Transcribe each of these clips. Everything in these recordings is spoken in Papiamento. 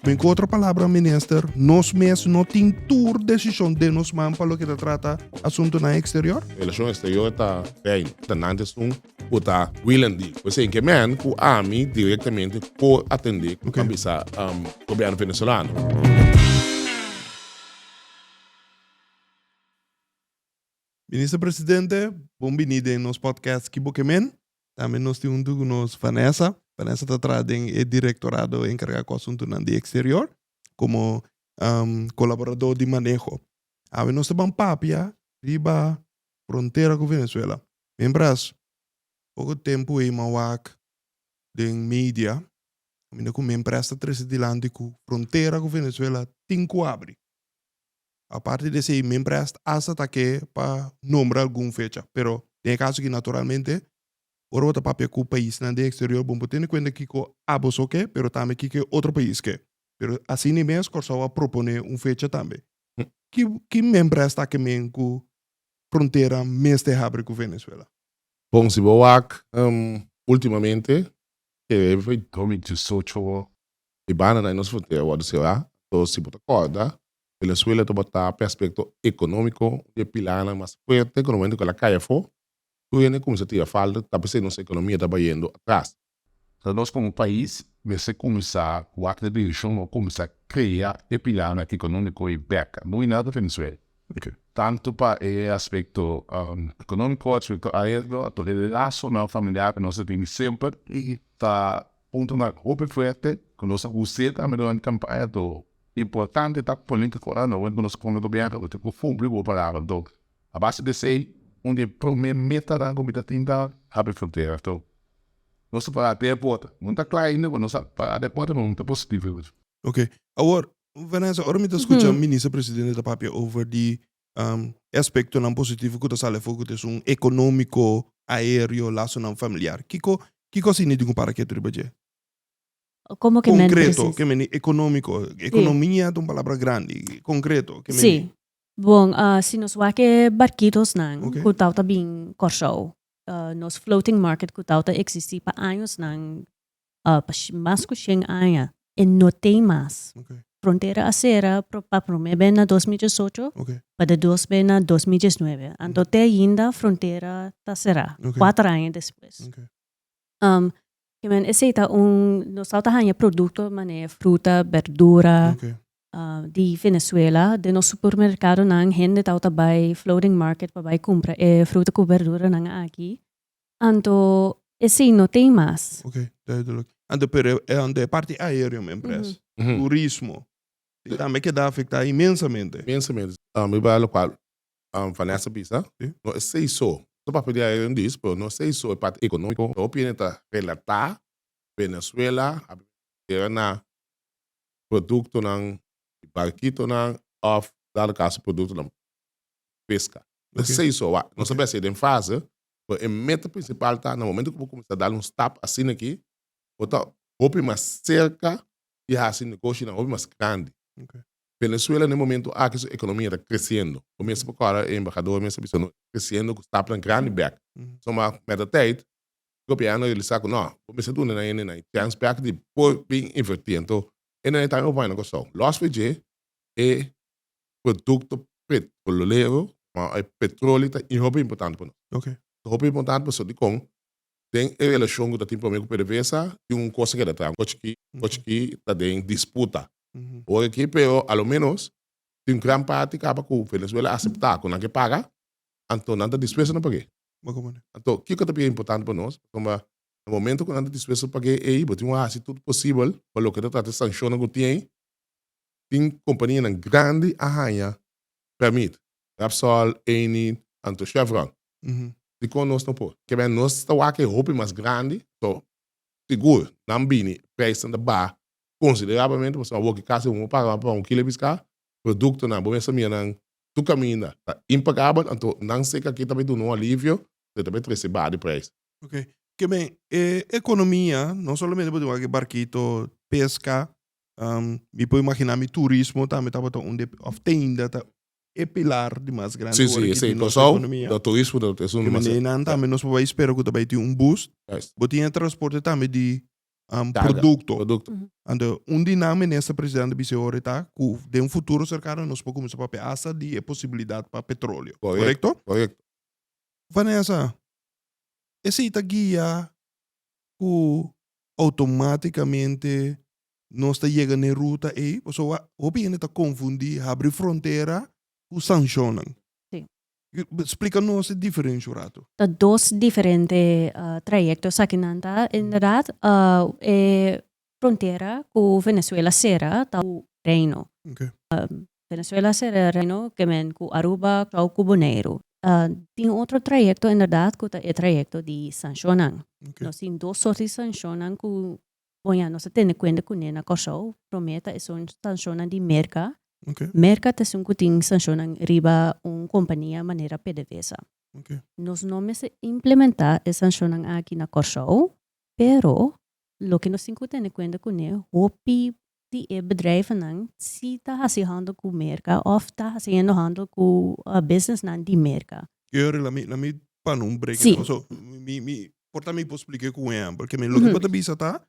Min ku otro palabra, Minister, nos mes no tin tur desishon den nos man pa loke ta trata asuntunan eksterior? Relashon eksterior ta Reino, ta nan ta esun ku ta wilen di kusé ke men ku ami direktamente por atendé ku tambe sa Gobièrnu Venesolano. Minister Presidente, bon biní den nos podcast Kibokemen. Tambe nos tin un tucu nos Vanessa. Vanessa ta traha den e Directorado encarga cu asuntunan di exterior como colaborador di maneho. Awe nos ta ban papia riba frontera cu Venezuela. Membras, poco tempo ei m'a wak den media caminda cu membres ta trece dilanti cu frontera cu Venezuela tin cu abri. Aparte di esei, Minprest hasta ta ke pa nombra algun fecha, pero den e kaso aki naturalmente ora bo ta papia ku paisnan den eksterior bo por tene kuenta kiko ABOSO ke, pero tambe kiko e otro pais ke. Pero asi ni mes Kòrsou a proponé un fecha tambe. Ki ki Minprest ta ke men ku frontera mester habri ku Venezuela? Bon, si bo wak ultimamente, te. Domingdje socho bo E banana i nos frontera a wòrdu será, anto si bo ta kòrda, Venezuela a tabata p'e aspekto ekonómiko un di e pilarnan mas fuerte ku na momentu ku el a kai afó, tur hende a kuminsá tira falta, ta p'esei nos ekonomia ta bayendo atras. So nos komo pais mester kuminsá wak e dirishon pa kuminsá krea e pilarnan ekonómiko ei bèk, no i nada Venezuela, tantu pa e aspekto ekonómiko, aspekto aéreo, ato e lasonan familiar ku nos a tene semper ta Punto na hopi fuerte cu nos a us'e tambe durante campaña to importante ta politico nan hopi cu nos con e gobierno cu tin cu cumpli cu bo palabra to a base di esey un di e prome metanan cu mi ta tin ta habri frontera to nos a para den porta no ta cla ainda pero nos a para den porta pero mi ta positivo. Ok, awor Vanessa ora mi ta scucha Minister Presidente ta papia over di E aspektonan positivo ku ta sali afó ku ta esun ekonómiko, aéreo, lasonan familiar. Kiko kiko asina i tin ku para ketu riba dje? Komo ke men presis. Konkreto, ke meni ekonómiko. Ekonomia ta un palabra grandi. Konkreto, ke meni? Sí. Bon, si nos wak e barkitosnan ku tawata bin Kòrsou, nos floating market ku tawata eksistí pa añosnan, pa mas ku shen aña e no tin mas. Frontera a sera pa prome be na dos mi disocho pa de dos be na dos mi diesnuebe anto te ainda frontera ta sera kuater aña despues. Esei ta un nos tawata haña produkto manera fruta berdura di Venezuela den nos supermerkadonan hende tawata bai floating market pa bai kumpra e fruta ku berduranan aki Anto esei no tei mas. Ok, duidelijk. Anto pero anto e parti aereo mi impres. Turismo. Tin tambe keda afecta inmensamente. Inmensamente. Mi bay locual Vanessa bisa, no esei so. Su papia di aereo dis, pero no esei so e parti economico. Hopi hende ta relata Venezuela abiba na productonan di barkitonan of dado caso productonan peska. Nan sa iso awa. Nos a bese den fase cu e meta principal ta na momento cu bo cuminsa dal un stap asina aki bo ta hopi mas cerca di haci negoshinan hopi mas grandi. Venezuela na e momento aki su economia ta creciendo. Bo mester por cora e embahador mester bisa nos ta creciendo cu stapnan grandi bek. So ma met e tijd Europeano a realisa cu no bo mester duna nan hende nan e chance bek di por bin inverti. Anto e nan e ta hopi baña na Curaçao. Los pa'i dje e produkto petrolero, ma e petroli ta e hopi importante pa nos. Okay. Ta hopi importante pasobra dikon? Den e relashon ku ta tin promé ku PDVSA tin un kos a keda atrás, un kos chikí, un kos chikí ta den disputa ora akí, pero a lo ménos tin gran parti kaba ku Venezuela a aseptá ku nan ke paga, anto nan ta dispuesto na pag'é. Bo kon manera? Anto kiko ta bira importante pa nos? Pasobra na momento ku nan ta dispuesto pag'é ei bo tin ku hasi tur posibel pa loke ta trata e sanshonnan ku tin ei tin kompanianan grandi a haña pèrmit, Repsol, Eni, anto Chevron. Dikon nos no por? Ke men nos ta wak e hopi mas grandi, so sigur nan bini preisnan ta baha konsiderablemente pasobra awor ke kasi un a paga pa un kilo e piska, produktonan bo mester mira nan tur kaminda ta impagabel anto nan sek aki ta bay duna un alivio so e ta bay trese baha di preis. Ok, ke men e ekonomia no solamente bo tin wak e barkito peska Am, mi por imaginá mi turismo tambe tabata un de, òf te ainda ta e pilar di mas grandi Sí, sí, ora ki esei tin nos Kòrsou, ekonomia. da turismo da es un Di manera demasiado. nan Ya, tambe nos por bai spera ku ta bai tin un bus. yes. Bo tin e transporte tambe di am, Carga, produkto. produkto. Anto un di nan minister president a bis'e ora ta ku den futuro serkano nos por kuminsá papia asta di e posibilidat pa petroleo. Korekto? Korekto, korekto. Vanessa, esei ta guia ku Automáticamente nos ta yega n'e ruta ei, pasobra awor hopi hende ta confundí habri frontera cu sancionnan. Sí. Splica nos e diferencia un rato. Ta dos diferente trayecto esaki. Nan ta inderdaad e frontera cu Venezuela cera ta un reino. Ok. Venezuela ser reino kemen ku Aruba, Chau ku Boneiru. Tin otro trayekto inderdat ku ta e trayekto di sanshonnan. Nos tin dos sort di sanshonnan ku bon ya nos ta tene kuente kuné na Kòrsou. Promé ta esun sanshonnan di merka. Merka ta esun ku tin sanshonnan riba un kompania manera PDVSA. Nos no mester implementá e sanshonnan aki na Kòrsou, pero loke nos tin ku tene kuente kuné hopi di e bedrijvennan si ta hasi handel ku Merka òf ta hasiendo handel ku businessnan di Merka. Yo a rila mi na mi pa no break it down, so mi mi por ta mi por spliké ku un ehèmpel ke mi loke mi ta bisa ta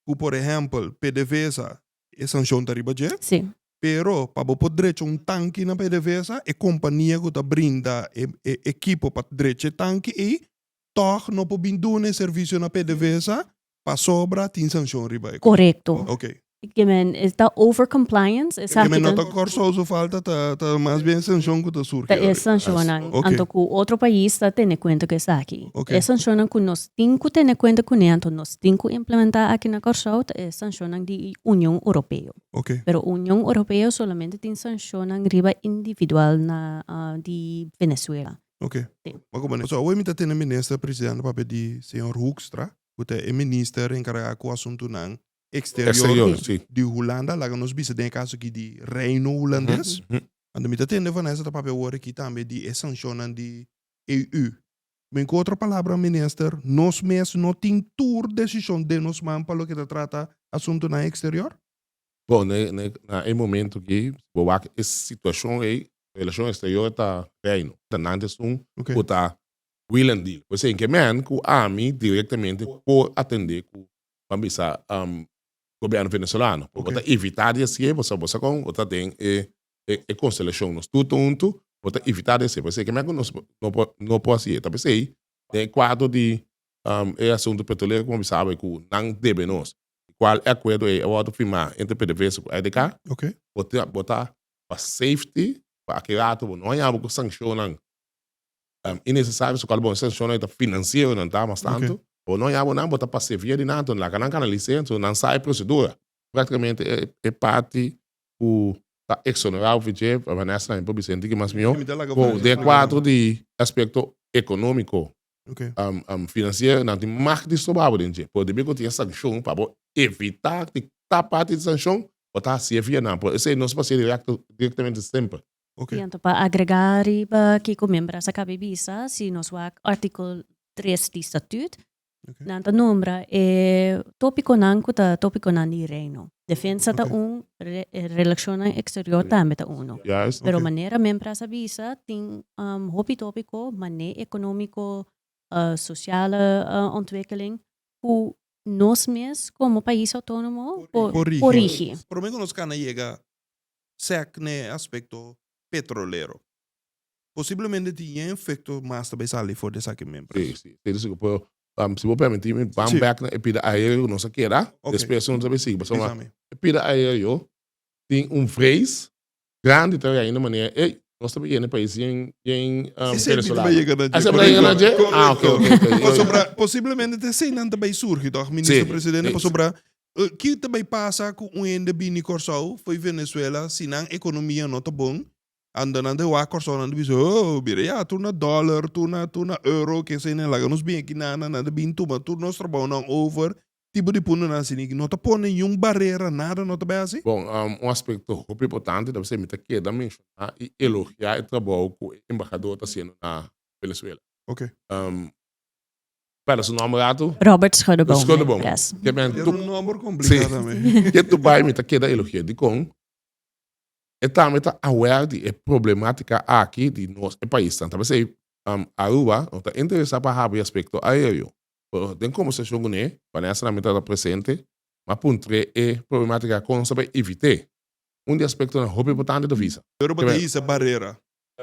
ku por ehèmpel pdvsa e sanshon ta riba dje pero pa bo por drecha un tanki na pdvsa e kompania ku ta brinda e e ekipo pa drecha e tanki ei tòg no por bin duna e servicio na pdvsa Pasobra tin sancion riba e cosa. Corecto. Ok. Ke men ta over compliance esaki ta. Ke men no ta Corsou su falta ta ta mas bien sancion ku ta surgi awe. Ta e sancionnan. Ok. Anto ku otro pais ta tene kuenta ku esaki. Ok. E sancionnan ku nos tin ku tene kuenta kune anto nos tin ku implementá aki na Corsou ta e sancionnan di Union Europeo. Ok. Pero Union Europeo solamente tin sancionnan riba individual na di Venezuela. Ok. Bo koba nega. So awe mi ta tene minister presidente papia di señor Hoekstra ku ta e minister enkarga ku asuntunan eksterior di Hulanda, laga nos bisa den e kaso aki di Reino Hulandes. Anto mi ta tende Vanessa ta papia wor aki tambe di e sanshonnan di EU. Men ku otro palabra minister, nos mes no tin tur desishon den nos man pa loke ta trata asuntunan eksterior? Bon, na e momento aki si bo wak e situashon ei Relashon eksterior ta Reino. Gobernante esun ku ta wil en dil. Por esei, ke men ku ami direktamente por atendé ku ban bisa Gobierno Venezolano. Bo ta evitá di hasié pasobra bo sa kon bo ta den e konstelashon. Nos tur ta huntu, bo ta evitá di hasié. Por esei, ke men ku nos no por hasié ta bisei den e kuadro di e asuntu petrolero ku bo a bisa bai ku nan debe nos, di kual e akuerdo ei a wòrdu firmá entre PDVSA ku IDK, bo ta pa safety pa aki rato bo no a yabu ku sankshonnan inesesario su kalabon e sankshonnan e ta finansiero nan ta mas tantu bo no a yabu nan bo ta pase via di nan laga nan kana lisen so nan sa e prosedura praktikamente e parti ku ta eksonerá ofi dje Vanessa nan a yapo Vicente di ki mas mihó ku den kuatro di aspekto ekonómiko um um financiero nan tin macht di stroba bo den dje por debí cu tin e sancion pa bo evitá tin ta parti di sancion bo ta haci e via nan por esei no spacia directo directamente semper. Y anto pa agregá riba kico Membras a cabe bisa si nos wak artikel tres di Statut nan ta nombra e tópiconan cu ta tópiconan di Reino. Defensa ta un, relashonnan eksterior tambe ta uno. Pero manera Membras a bisa tin hopi topiko mané ekonomiko, sosial ontwikkeling ku nos mes komo pais outonomo por korigi. Promé ku nos kan a yega sèk n'e aspekto petrolero. Posiblemente tin yen efekto mas ta bai sali for di esaki Membras. Si, si. Por esun ku por Pam, si bo permití mi, pam Sí. back na e pida aéreo ku nos a keda, Ok. despues nos a bai sigui, pasobra Disami. e pida aéreo tin un vrees grandi ta ainda manera ey, nos ta bai yega na e pais bien, bien ah, Esei biba venezolano. yega na dje. Así a yega na dje? Correcto. Ah, ok, ok, ok. Yo- Pasobra posiblemente ta esei nan ta bai surgi tòg, minister Sí, presidente, sí. pasobra eh, ki ta bai pasa ku un hende bini Kòrsou, for Venezuela, si nan ekonomia no ta bon, Ando nan ta wak Kòrsou nan ta bisa, Ohh, bira ya, tur na dòler, tur na, tur na euro, kesei nan laga nos bin aki nada, nan ta bin tuma tur nos trabounan over, tipo di puntonan asina ki no ta pone niun barera, nada no ta bai asi. Bon, un aspekto hopi importante ta ser mi ta keda menshoná i elogiá e trabou ku e embahadó ta hasiendo na Venezuela. Oke. Spela su nòmber atu? Robert Schuddeboom. Schuddeboom. Yes. Ke ben tu. Ke nòmber komplikado tambe. Ke tu bai mi ta keda elogi'é. Dikon? E tambe ta aware di e problematica aki di nos e paisnan. Ta pasey um Aruba no ta interesa pa habi aspecto aereo. Pero den conversacion cu ne, Vanessa tambe tabata presente, m'a puntre e problematica a con sabi evite. Un di aspectonan hopi importante ta visa. Pero bo ta hisa barera.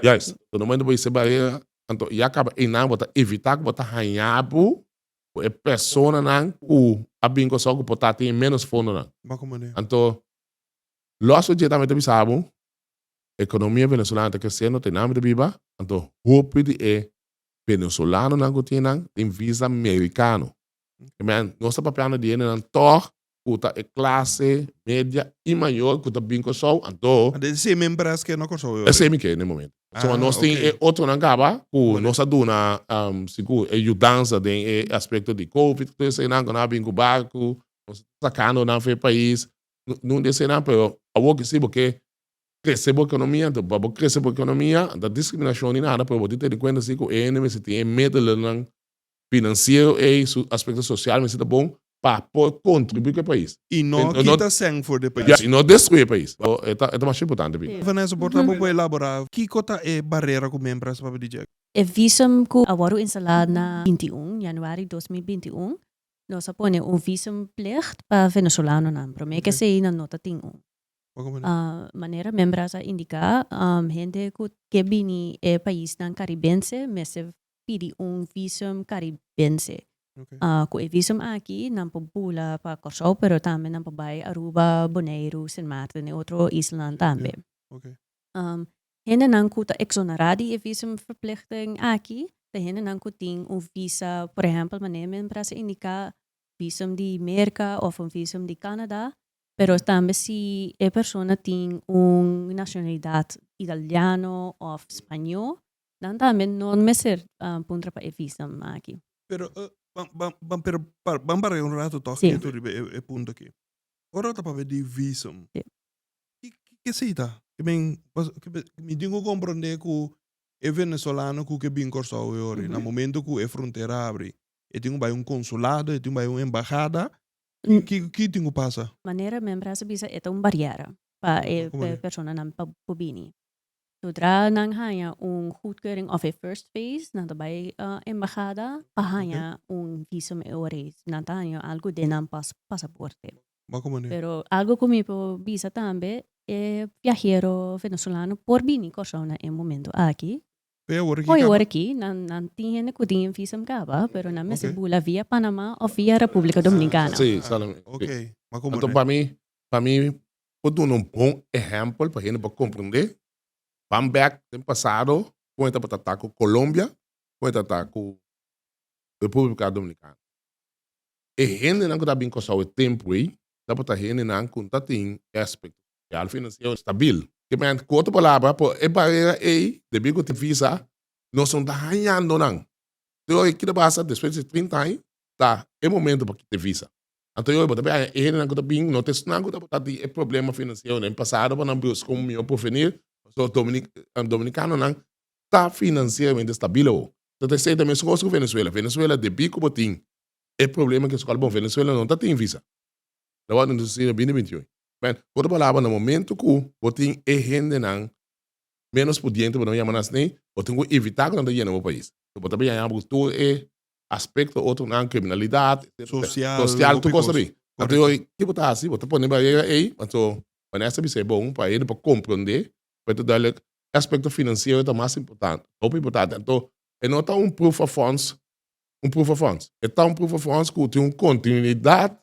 Juist. So na momento bo hisa e barera, anto ya caba eynan bo ta evita cu bo ta haña bo cu e personanan cu a bin Curaçao cu por ta tin e menos fondonan. Anto Los oye tambe ta bisa bo, Economia Venezolana ta crece, no tenambe ta biba, anto hopi di e Venezolanonan cu tin nan tin visa Mericano. Amen. Nos ta papiando di hendenan tog cu ta e clase media y mayor cu ta bin Corsou, anto. Anto e sey membres ke na Corsou e sey mi ke n'e momento. So a nos tin e otronan caba cu nos a duna si cu e yudansa den e aspecto di covid cu tur esey nan cu nan a bin cu barco, nos a sacando nan for e pais, Nun di eseinan, pero awor ke si bo ke krese bo ekonomia, enton pa bo krese bo ekonomia ta diskriminashon ni nada, pero bo tin tene kuenta si ku e hende mester tin e medelennan finansiero ei, su aspekto sosial mester ta bon pa por kontribuí ku e pais. I no kita sèn for di e pais. Ya, i no destruí e pais. So, e ta masha importante biba. Vanessa, por ta bo por elaborá kiko ta e barera ku men presta pa bo di djeki? E visum ku a wòrdu instalá na binti un yanüari dos mil binti un Nos a pone un visumplicht pa venezolanonan. Promé ke esei nan nota tin un. Manera Membras a indiká, hende ku ke bini e paisnan karibense mester pidi un visum karibense. Ku e visum aki nan por bula pa Kòrsou pero tambe nan por bai Aruba, Boneiru, Sint Maarten i otro islanan tambe. Hendenan ku ta eksonerá di e visumverpligting aki ta hendenan ku tin un visa, por ehèmpel manera mi a mira sa indiká visum di Merka òf un visum di Kanada, pero tambe si e persona tin un nashonalidat italiano òf spañó nan tambe no mester puntra pa e visum aki. Pero ban pero ban bareá un rato tòg ketu riba e punto aki. Ora ta papia di visum Ki ke esei ta? Ke men mi tin ku komprondé ku e venezolano ku ke bin Kòrsou awe ora, na momento ku e frontera abri, e tin ku bai un konsulado, e tin ku bai un embahada, ki ki tin ku pasa? Manera men bras a bisa e ta un barièr pa e personanan pa por bini. Sodra nan haña un goedkeuring òf e first phase, nan ta bai embahada pa haña un visum e ora ei. Nan ta haña algu den nan pasaporte. Bo cu manera? Pero algo cu mi por bisa tambe, e viajero venezolano por bini Cor-sao na e momento aki. Cu e awor aki caba? Cu e awor aki, nan, nan tin hende cu tin e visum caba, pero nan mester bula via Panama of via Republica Dominicana. Si, solamente. Si. Ok, ma cu Anto, manera? pa mi, pa mi por duna un bon ehempel pa hende por comprende, ban bek den pasado con e tabata ta cu Colombia, con e tabata ta cu Republica Dominicana. E hendenan ku ta bin Kòrsou e tempu ei tabata hendenan ku ta tin e aspekto sosial finansiero stabil. Kibè, ku otro palabra, por e barera ei, debí ku tin visa, nos no ta hañando nan. Anterior e kita basa despues di trinta aña ta e momentu pa kita e visa. Anterior bo ta bin haña e hendenan ku ta bin, no ta esnan ku tabata tin e problema finansiero den pasado pa nan buska un mihó porvenir. Pasobra dominikanonan ta finansieramente stabil awor. No ta esei ta mesun kos ku Venezuela. Venezuela debí ku bo tin e problema ki eskola. Bon, Venezuela no ta tin visa. Lo wak nos hasi na bini binti hui. Bèn, ku otra palabra, na momentu ku bo tin e hendenan ménos pudiente, bo no yama nan snei, bo tin ku ivitá ku nan ta yena bo pais. Bo ta biaña bo ku tur e aspekto otronan, kriminalidat, etcétera, sosial, tur kos abí. Anto yo, ki bo ta hasi? Bo ta pone barera ei? Pasobra Vanessa a bisa e bon pa e, dor pa komprondé, pa e ta duidelijk, e aspecto financiero ta mas importante, hopi importante. Anto e no ta un proof of funds, un proof of funds. E ta un proof of funds cu tin un continuidad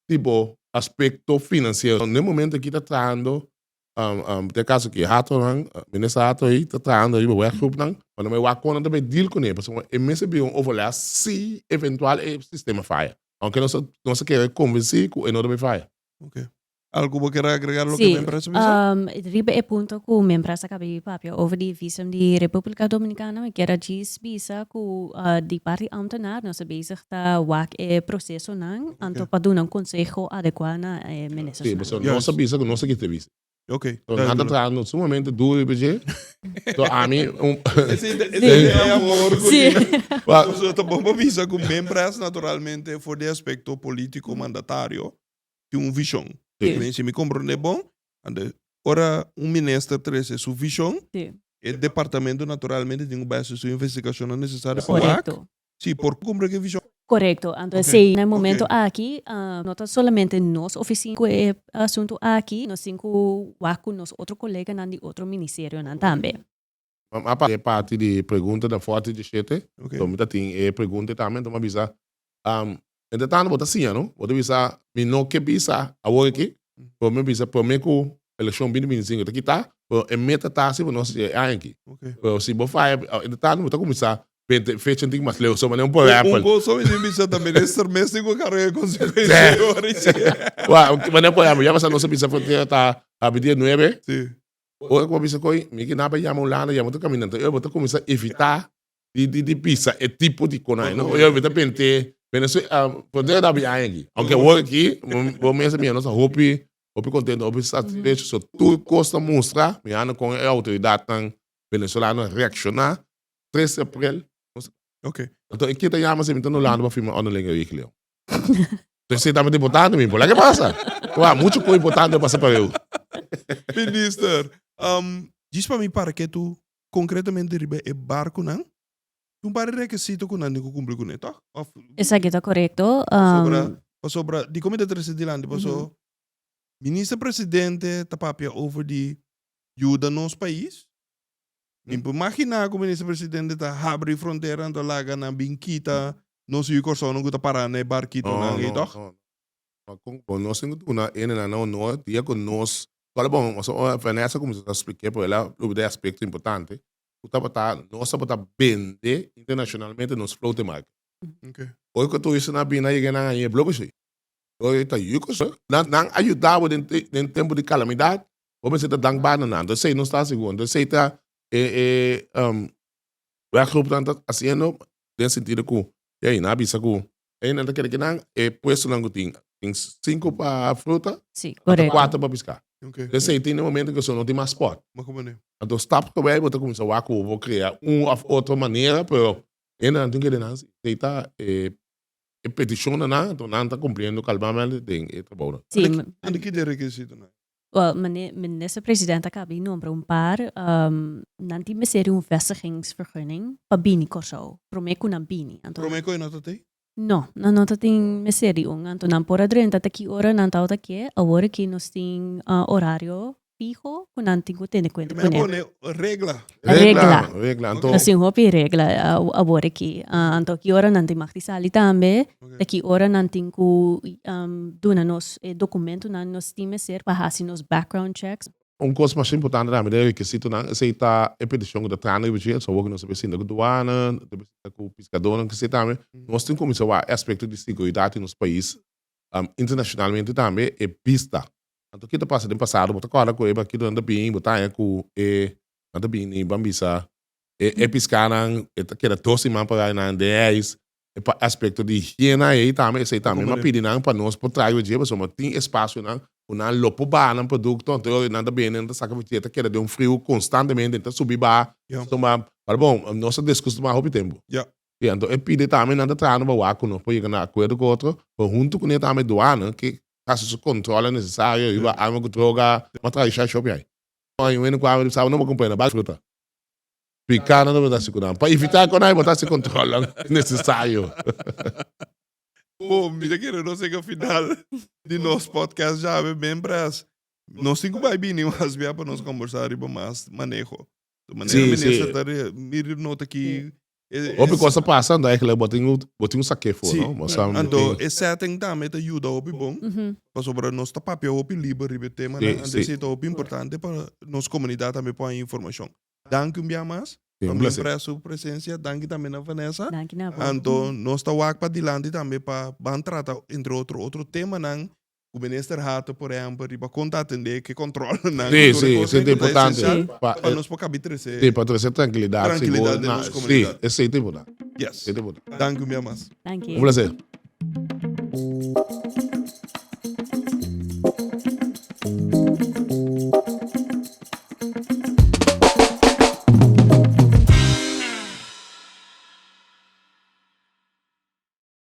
di bo aspecto financiero. Na e momento aki ta trahando, um, um, te caso aki, Hato-nan, Minister Hato ey ta trahando riba werkgroepnan, ma no me wak con nan ta bay deal cun'e, pasobra e mester bira un overleg si eventual e sistema faya. Aunke nos ta, nos ta kere convenci cu e no ta bay faya. Oké. Algu bo kier agregar loke Membra su bisa? Si, riba e punto ku Membra sa kabe di papia over di visum di Republika Dominikana mi kier a djis bisa ku di parti di Amtenar nos ta bezig ta wak e prosesonan anto pa duna un konseho adekua na e Ministers nan. Si, nos ta bisa ku nos ta kiti visa. So nan ta traha no sumamente duru riba dje. So ami un Nosotros ta bon pa bisa ku Membra es naturalmente for di aspekto politiko mandatario tin un vision e mester dici mi comprende bon, anto ora un minister trece su vision e departamento naturalmente tin cu bay haci su investigacionnan necesario pa wak si por cumpli cu e vision. Correcto, anto esey na e momento aki no ta solamente nos oficina cu e asunto aki, nos tin cu wak cu nos otro coleganan di otro ministerionan tambe. Mam a pasa e parti di pregunta den forte diecisiete, so mi ta tin e pregunta y tambe entons mi a bisa, Um, entretanto bo ta siña, no? Bo ta bisa, Mi no ke bisa awor aki, pero mi a bisa prome ku elekshon bini bintisingu e ta kita, pero e meta ta hasi pa nos dje e aña aki. Pero si bo faya, entretanto bo ta kuminsá binte fecha tin mas leu, so manera un porèpel. Un kosa mi tin bisa ta mira e sermes tin ku karga e konsekuensia e hora ei. Manera un porèpel, ya pasá nos a bisa frontera ta abi dia nuebe, Bo ta cuminsa coi, mi ki na bay yama un lana, yama otro caminda, enton ey bo ta cuminsa evita di pisa e tipo di conai, no? Ey ta pente, bene so, por eso abi aña aki, aunque awor aki bo mes ta mira nos a hopi contento, hopi satisfecho, so tur cos ta mustra mirando con e autoridadnan venezolano a reacciona tres de aprel, enton e ke ta yama sey mi ta no lana pa firma orden legal aki, Leo? Te seta mi ta importante mi, por lak e pasa? Wa, muchu koe importante pasa pa eu. Minister, um, djis pa mi para ke tu konkretamente riba e barkunan, tin un par di rekesito ku nan tin ku kumpli kuné, tòg? Òf, Esaki ta korekto. pasobra, Um, pasobra, dikon mi ta trese dilanti, paso Minister Presidente ta papia over di yuda nos pais, Nin por maginá ku Minister Presidente ta habri frontera anto a laga nan bin kita nos yu kòrsounan ku ta pará na e barkitonan ei tòg? No, no, no. Kon ku bo nos tin ku duna ene nan no no dia ku nos tabata bon pasobra ora Vanessa kuminsá ta splik'é por el a lubri di e aspekto importante ku tabata nos tabata bende internashonalmente nos flote marke. Oy ku turista a bini a yega nan a yen e blokeshei. Oy ta yu kòrsou nan a yuda bo den tempu di kalamidat Bo mester ta dank banana, anto esei nos ta sigu, anto esei ta e e um werkgroepnan ta haciendo den e sentido cu de ayi nan a bisa cu de ayi nan ta kere cu nan e puestonan cu tin, tin cinco pa fruta, Sí, ata correcto. cuatro pa pisca. Okay. Den esei tin e momento cu so no tin mas spot. Ma como ne? Anto stap ta bay bo ta cuminsa wak cu bo crea un of otro manera, pero de ayi nan a tin kere nan si esei ta e e peticionnan nan, anto nan ta cumpliendo calmamel den e trabounan. Sí, Anto ki den requisitonan? Minister president a kabí nombra un par, nan tin mester di un vestigingsvergunning pa bini Kòrsou, promé ku nan bini. Anto. Promé ku e no ta tin? No, nan no ta tin mester di un. Anto nan por a drenta ta ki ora nan ta outa ke. Awor aki nos tin orario fiho ku nan tin ku tende kuenta kuné. Promé ku un regla. Regla. Regla, anto. Nos tin hopi regla uh, abor aki. Uh, anto ki ora nan tin mag di sali tambe, ta ki ora nan tin ku um, duna nos e dokumentunan nos tin mester pa hasi nos background checks. Un kos mas importante tambe den e rekisitonan, esei ta e petishon ku ta trana riba dje, so awor ku nos a presenta ku duana, nos ta presenta ku piskadónan, kise tambe, nos tin kuminsá wak e aspekto di seguridat di nos pais, um, internashonalmente tambe e bista. Anto ki ta pasa den pasado? Bo ta kòrda ku e barkitonan ta bini, bo ta haña ku e nan ta bini ban bisa e e piskanan, e ta keda dos siman para nan den e ais. E pa aspekto di higiena ei tambe esei tambe. Nan pidi nan pa nos por trayo dje pasobra bo tin espasio ku nan lo por baha nan produkto. Anto ora nan ta bini, nan ta saka fu dje, ta keda den un friu konstantemente, ta subi baha. Pero bon, nos ta deskustumá hopi tempu. Anto e pidi tambe nan ta traha nos bawá ku nos por yega na akuerdo ku otro. Pero huntu kuné tambe duana, ke hasi su kontrol nesesario, hiba arma ku droga, m'a traha isha shop yai. Aña wende ku ami di saba no bo kumprende bal fruta. Pikana no bo ta hasi ku nan pa evitá ku nan e bo ta hasi kontrol nesesario. Bo mira kende nos yega final di nos podcast ya be membras. Nos tin ku bai bini mas bia pa nos komborsá riba mas maneho. Manera Minister ta mira nota aki Hopi cos ta pasa anto eigenlijk bo tin bo tin un sake fo no bo sa anto e setting tambe ta yuda hopi bon pasobra nos ta papia hopi liber riba e tema nan anto esey ta hopi importante pa nos comunidad tambe por haña informacion danki un bia mas pa mi pres su presencia danki tambe na Vanessa anto nos ta wak padilanti tambe pa ban trata entre otro otro temanan Ku Minister Hato por ehempel riba kon ta atendé ke kontrolnan ku tur e kos den ku ta esensial pa nos por kabi trese trankilidat sigur den nos komunidat. Yes. Danki un bia mas. Un plaser.